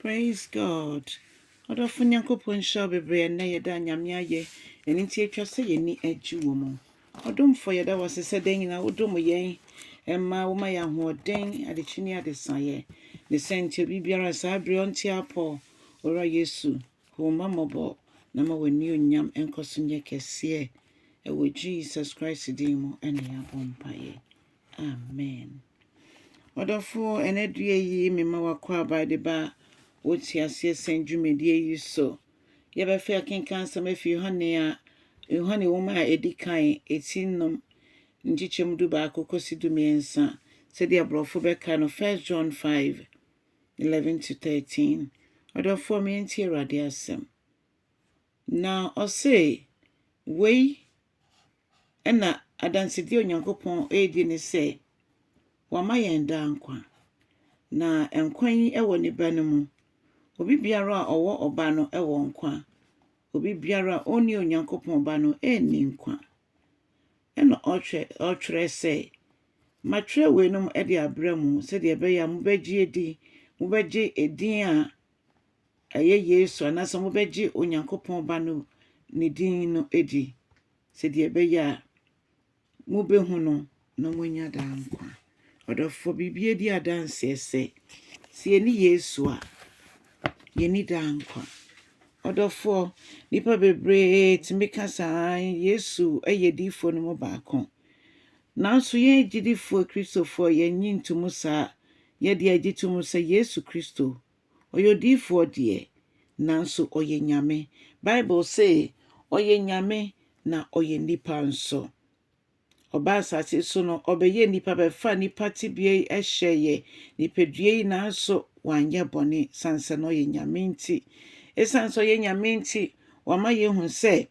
Praise God ɔdɔfo Nyankopɔn nhyira wo bebree ɛnnɛ yɛda Nyame ayɛ ɛno nti atwa sɛ yɛni agye wɔ mu ɔdomfoɔ yɛda wo ase sɛ dɛn nyina wo dom yɛn ɛma wo ma yɛ ahoɔden adekyi ne adesaeɛ ne sɛ nti obi biara saa bere ɔnte apɔ owura Yesu hu wo mma mmɔbɔ na ma w'ani onyam nkɔso nyɛ kɛseɛ ɛwɔ Jesus Christ din mu ɛne yɛabɔ mpaeɛ Amen. Ɔdɔfoɔ, ɛnɛ adua yi mema w'akwaaba de ba wo teaseɛ sɛn dwumadie yi so. Yɛbɛfɛ akenka asɛm afi Yohane a Yohane wɔm a ɛdi kan ɛti nom nkyekyɛm du baako kɔsi du mmiɛnsa sɛdeɛ aborɔfo bɛka no 1 John 5 11 to 13 ɔdɔfoɔ me yɛnti awurade asɛm na ɔse wei Ɛnna adansedi a Onyankopɔn redi ne sɛ wama yɛn daa nkwa, na nkwa yi wɔ ne Ba no mu. Obi biara a ɔwɔ Ɔba no wɔ nkwa. Obi biara a onni Onyankopɔn Ba no nni nkwa. Ɛnna ɔtwerɛe sɛ, Matwerɛ weinom de abrɛ mo sɛdeɛ ɛbɛyɛ a mobɛgye adi, mobɛgye edin a ɛyɛ Yesu anaasɛ mobɛgye Onyankopɔn Ba no ne din no adi. Sɛdeɛ ɛbɛyɛ a mobɛhu no na moanya daa nkwa. Ɔdɔfoɔ, biribiara di adanseɛ sɛ, sɛ yɛni Yesu a, yɛni daa nkwa. Ɔdɔfoɔ, nnipa bebree tumi ka saa, Yesu yɛ diifoɔ no mu baako. Nanso yɛn agyidifoɔ Kristofoɔ, yɛnnye ntom saa. Yɛdeɛ yɛgye tom sɛ Yesu Kristo Ɔyɛ odiyifoɔ deɛ, nanso ɔyɛ Nyame. Bible se, Ɔyɛ Nyame na ɔyɛ nipa nso. Ɔbaa asase so no, ɔbɛyɛɛ nipa, bɛfaa nipa tebea yi hyɛeɛ, nipadua yi, nanso wanyɛ bɔne sane sɛ na ɔyɛ Nyame nti. Esiane sɛ ɔyɛ Nyame nti, wama yɛahu sɛ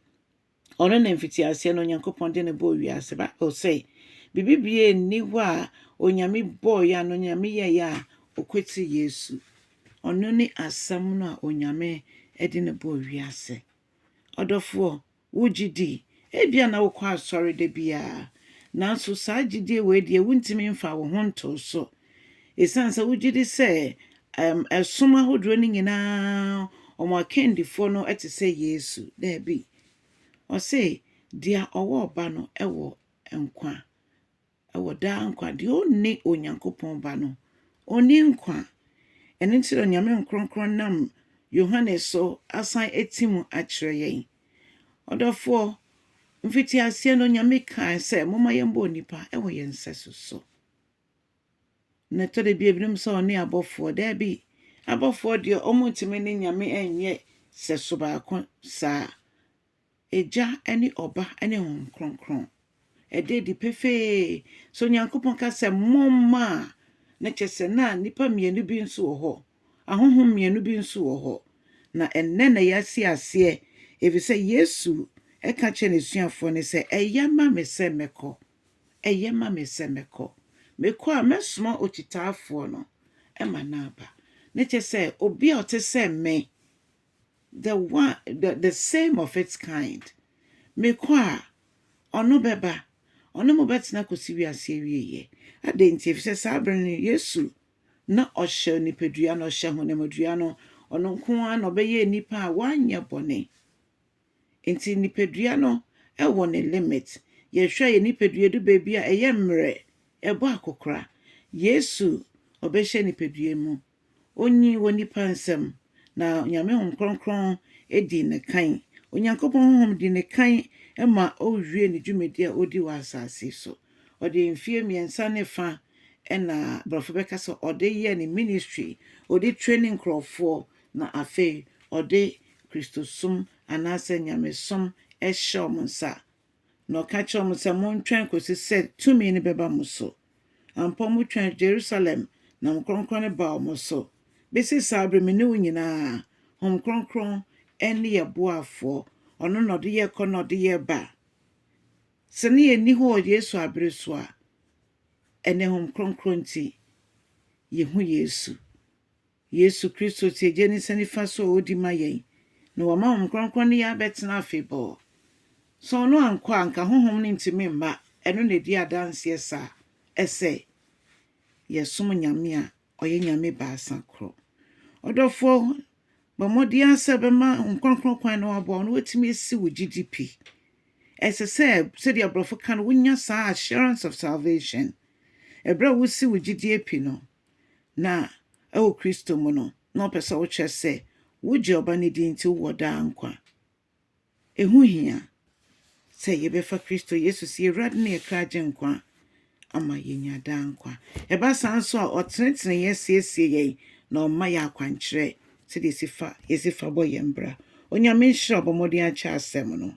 Ɔno na mfitiaseɛ no Onyankopɔn de no bɔɔ wiase. Bible sɛ, Biribi biaa nni hɔ a Onyame bɔɔeɛ a, na Onyame yɛeɛ a, ɔkwati Yesu. Ɔno ne Asɛm no a Onyame de no bɔɔ wiase. Ɔdɔfoɔ, wo gye di? Ebia na wokɔ asɔre da biaa, nanso saa gyedie wei deɛ wontumi mfaa wo ho ntoo so. Esiane sɛ wogye di sɛ som ahodoɔ no nyinaa wɔn akandifoɔ no te sɛ Yesu, daabi. Ɔse, Deɛ ɔwɔ Ɔba no wɔ nkwa, wɔ daa nkwa. Deɛ ɔnni Onyankopɔn Ba no, ɔnni nkwa. Ɛno nti na Onyame Nkorɔnkorɔn nam Yohane so asan ati mu akyerɛ yɛn. Ɔdɔfoɔ, mfitiaseɛ no Onyame kae sɛ, Momma yɛmbɔ nnipa wɔ yɛn nsɛso so. Na ɛtɔ da bi a ebinom sɛ wɔne abɔfoɔ. Daabi, abɔfoɔ deɛ wɔntumi ne Nyame nyɛ sɛso baako saa. Agya ne Ɔba ne Honhom Kronkron. Ɛda adi pefee sɛ Onyankopɔn ka sɛ momma a, na kyerɛ sɛ na nnipa mmienu bi nso wɔ hɔ, ahonhom mmienu bi nso wɔ hɔ. Na ɛnnɛ na yɛasi aseɛ, ɛfiri sɛ Yesu ka kyerɛɛ n'asuafoɔ no sɛ, Ɛyɛ ma me sɛ mɛkɔ, Ɛyɛ ma me sɛ mɛkɔ. Mekɔ a, mɛsoma okyitaafoɔ no ma no aba. Ne kyɛ sɛ, obi a ɔte sɛ me, the one, the, the same of its kind. Mekɔ a, ɔno bɛba. Ɔne mo bɛtena kɔsi wiase awieeɛ. Adɛn nti? Ɛfiri sɛ saa berɛ no, Yesu na ɔhyɛ onipadua no, ɔhyɛ honamdua no. Ɔno nko ara na ɔbɛyɛ nnipa a wɔanyɛ bɔne. Nti nipadua no wɔ ne limit. Yɛhwɛ a yɛn nipadua du baabi a ɛyɛ mmerɛ, ɛbɔ akokora. Yesu ɔbɛhyɛ nipadua mu. Ɔnyini wɔ nnipa nsam na Nyame Honhom Kronkron dii ne kan. Onyankopɔn Honhom dii ne kan ma ɔwiee ne dwumadie a ɔredi wɔ asase so. Ɔde mfeɛ mmiɛnsa ne fa na borɔfo bɛka sɛ ɔde yɛɛ ne ministry. Ɔde training nkorɔfoɔ Na afei ɔde Kristosom anaasɛ nyamesom hyɛɛ wɔn nsa, na ɔka kyerɛɛ wɔn sɛ, Montwɛn kɔsi sɛ tumi no bɛba mo so. Ampa, wɔtwɛn Jerusalem, na Honhom Kronkron no baa wɔn so. Bɛsi saa berɛ me ne wo nyinaa, Honhom Kronkron ne yɛn boafoɔ, ɔno na ɔde yɛn kɔ na ɔde yɛn ba. Sɛ na yɛnni hɔ wɔ Yesu abere so a, ɛnnɛ Honhom Kronkron nti, yɛhu Yesu. Yesu Kristo te Agya nisa nifa so a odi ma yɛn, na wama Honhom Kronkron ne yɛn abɛtena afebɔɔ. Sɛ ɔno ankɔ a, anka Honhom no ntumi mma, ɛno na edi adanseɛ saa, ɛsɛ yɛsom Nyame a ɔyɛ Nyame baasa korɔ. Ɔdɔfoɔ, bɔ mmɔden ara sɛ wobɛma Honhom Kronkron kwan na waboa wo na watumi asi wo gyidi pi. Ɛsɛ sɛ, sɛdeɛ aborɔfo ka no, wonya saa assurance of salvation. Ɛberɛ a wosi wo gyidie pi no, Na wɔ Kristo mu no, na ɔpɛ sɛ wokyerɛ sɛ wogye Ɔba no di nti wowɔ daa nkwa. Ɛho hia sɛ yɛbɛfa Kristo Yesu sɛ yɛn Awurade ne yɛn kra Agyenkwa ama yɛanya daa nkwa. Ɛba saa nso a, ɔtenetene yɛn, siesie yɛn, na ɔma yɛn akwankyerɛ sɛdeɛ yɛsi fa bɔ yɛn bra. Onyame nhyira a ɔbɔ mmɔden akyɛ asɛm no.